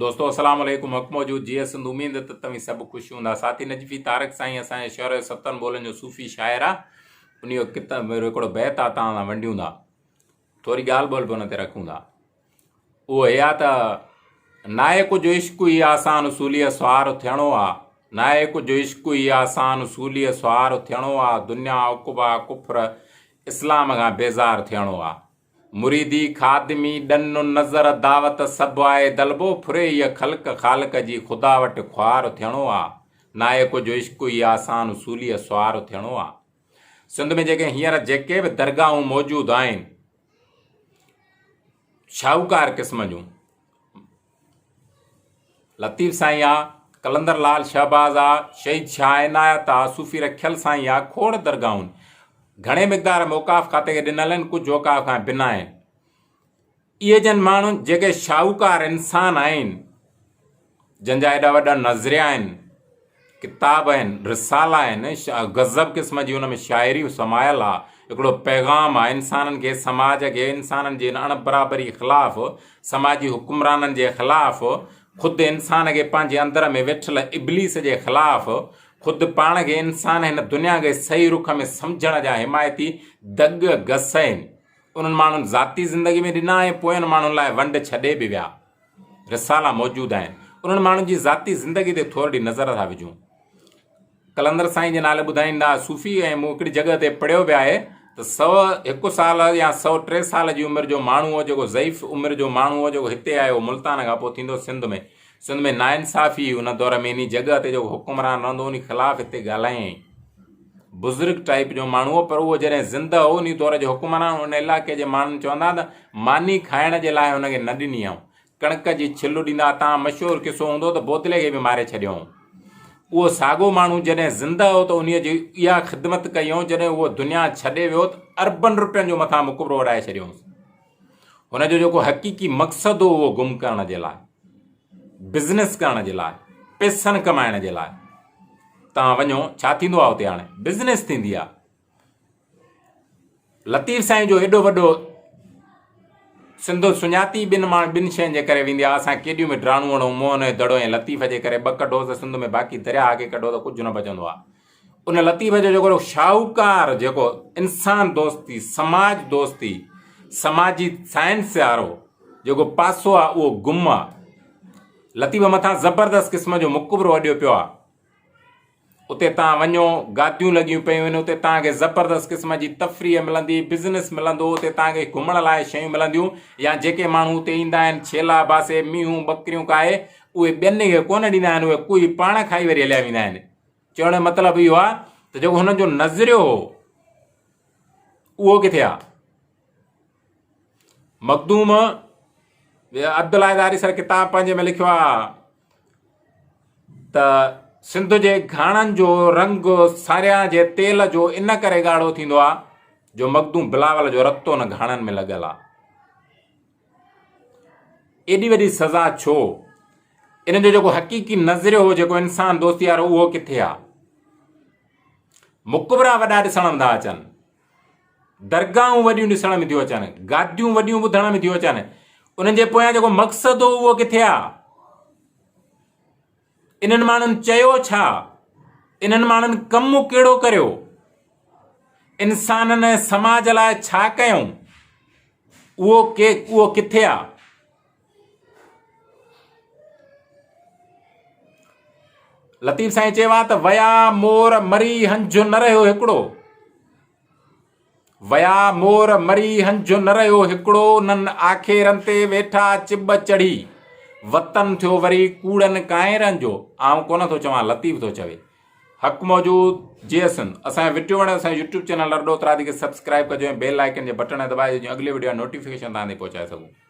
دوستو السلام عليڪم حق موجود جي سنڌ اميد ته توهين سڀ خوش هوندا ساٿي نجفي تارڪ سائين اسان جي شعر ستن بولن جو صوفي شاعر آ ان جو کتاب هڪڙو بيت آ تان سان ونڊيون ٿا ٿوري ڳالهه ٻولهه به ان تي رکون ٿا اهو هي آ ته ناهي ڪجهه عشق هي آسان اصولي سوار ٿيڻو آ ناهي ڪجهه عشق هي آسان اصولي سوار ٿيڻو آ دنيا عقبا ڪفر اسلام کان بيزار ٿيڻو آ مريدي خادمي ڏن و نذر دعوت سڀ آء دلبو ڦري هيء خلق خالق جي خدا وٽ خوار ٿيڻو آ ناهي ڪجهه عشق ئي آسان اصوليء سوار ٿيڻو آ سنڌ ۾ جيڪي هينئر جيڪي به درگاهون موجود آهن شاهوڪار قسم جون لطيف سائين آ، قلندر لعل شهباز آ، شهيد شاهه عنايت آ، صوفي رکيل سائين آ، کوڙ درگاهون گهڻي مقدار ۾ اوقاف کاتي کي ڏنل آهن، ڪجهه اوقاف کان بنا آهن. اهي جن ماڻهن جيڪي شاهوڪار انسان آهن، جن جا ايڏا وڏا نظريا آهن، ڪتاب آهن، رسالا آهن، غضب قسم جي ان ۾ شاعريون سمايل آ، هڪڙو پيغام آ انسانن کي، سماج کي، انسانن جي ان اڻ برابري خلاف، سماجي حڪمرانن جي خلاف، خود انسان کي پنهنجي اندر ۾ ويٺل ابليس جي خلاف، خود پاڻ کي انسان هن دنيا کي صحيح رخ ۾ سمجهڻ جا حمايتي دڳ گسين انهن ماڻهن ذاتي زندگي ۾ ڏنا ۽ پوين ماڻهن لاء ونڊ ڇڏي به ويا. رسالا موجود آهن انهن ماڻهن جي ذاتي زندگي تي ٿورڙي نظر ٿا وجهون قلندر سائين جي نالي ٻڌائيندا صوفي ۽ مون هڪڙي جڳهه تي پڙهيو به آهي ته سؤ هڪ سال يا سؤ ٽي سال جي عمر جو ماڻهو هو جيڪو ضعيف عمر جو ماڻهو هو جيڪو هتي آيو ملتان کان پوء ٿيندو سنڌ ۾ سنڌ ۾ ناانصافي هئي ان دور ۾ انهي جڳهه تي جيڪو حڪمران رهندو انهي خلاف هتي ڳالهايائين بزرگ ٽائيپ جو ماڻهو هو پر اهو جڏهن زنده هو انهي دور جا حڪمران ان علائقي جي ماڻهن چوندا ته ماني کائڻ جي لاء هن کي نه ڏني هئون ڪڻڪ جي ڇلو ڏيندا ها تان مشهور قصو هوندو ته بوتلي کي به ماري ڇڏيو هئون اهو ساڳو ماڻهو جڏهن زنده هو ته انهي جي اها خدمت ڪئي هئون جڏهن اهو دنيا ڇڏي ويو ته اربن روپين جو مٿان مقبرو اڏائي ڇڏيو هئونس هن جو جيڪو حقيقي مقصد هو اهو گم ڪرڻ جي لاء بزنس ڪرڻ جي لاء پيسن ڪمائڻ جي لاء توهان وڃو ڇا ٿيندو آهي اتي هاڻي بزنس ٿيندي آهي لطيف سائين جو ايڏو وڏو سنڌو سڃاتي بن ماڻ بن شين جي ڪري ويندي آهي اسان ڪيڏيون به ڊراڻوڻو موهن دڙو ۽ لطيف جي ڪري ٻه ڪڍو ته سنڌ ۾ باقي درياهه کي ڪڍو ته ڪجهه نه بچندو آهي ان لطيف جو جيڪو شاهوڪار جيڪو انسان دوستي، سماج دوستي، سماجي سائنس وارو جيڪو پاسو آ اهو گم آ. لطيف مٿان زبردست قسم جو مقبرو اڏيو پيو آ. اتي تان وڃو گاديون لڳيون پيون آهن اتي تان کي زبردست قسم جي تفريح ملندي، بزنس ملندو، اتي تان کي گهمڻ لاء شيون ملنديون يا جيڪي ماڻهو اتي ايندا آهن ڇيلا باسي، مينهون، ٻڪريون کائي اهي ٻين کي ڪونه ڏيندا آهن اهي ڪوئي پاڻ کائي وري هليا ويندا آهن. چوڻ جو مطلب اهو آهي ته جيڪو هن جو نظريو هو اهو ڪٿي آهي مخدوم عبدالله داري سر ڪتاب پنهنجي ۾ لکيو آهي ته سنڌ جي گھاڻن جو رنگ ساريان جي تيل جو ان ڪري ڳاڙهو ٿيندو آهي جو مخدوم بلاول جو رتو ان گھاڻن ۾ لڳل آهي ايڏي وڏي سزا ڇو؟ ان جو جيڪو حقيقي نظريو هو جيڪو انسان دوستي وارو اهو ڪٿي آ؟ مقبرا وڏا ڏسڻ ۾ ٿا اچن درگاهون وڏيون ڏسڻ ۾ ٿيون اچن گاديون وڏيون ٻڌڻ ۾ ٿيون اچن انهن جي پويان جيڪو مقصد هو اهو ڪٿي آ؟ انهن ماڻهن چيو ڇا؟ انهن ماڻهن ڪم ڪهڙو ڪريو؟ انسانن ۽ سماج لاء ڇا ڪيائون؟ اهو ڪي اهو ڪٿي آ؟ لطيف سائين چيو آ ته ويا مور مري هنجهو نه رهيو هڪڙو. ويا مور مري هنجهه نه رهيو هڪڙو انهن آکيرن تي ويٺا چٻ چڙهي وطن ٿيو وري ڪوڙن ڪائنرن جو آئون ڪونه ٿو چوان لطيف ٿو چوي حق موجود جي اسن اسان ويڊيو وڻي اسان يوٽيوب چينل لرڊو ترادي کي سبسڪرائب ڪجو ۽ بيل آئيڪن جي بٽن دبائي جو اڳلي ويڊيو نوٽيفڪيشن تان پهچائي سگهو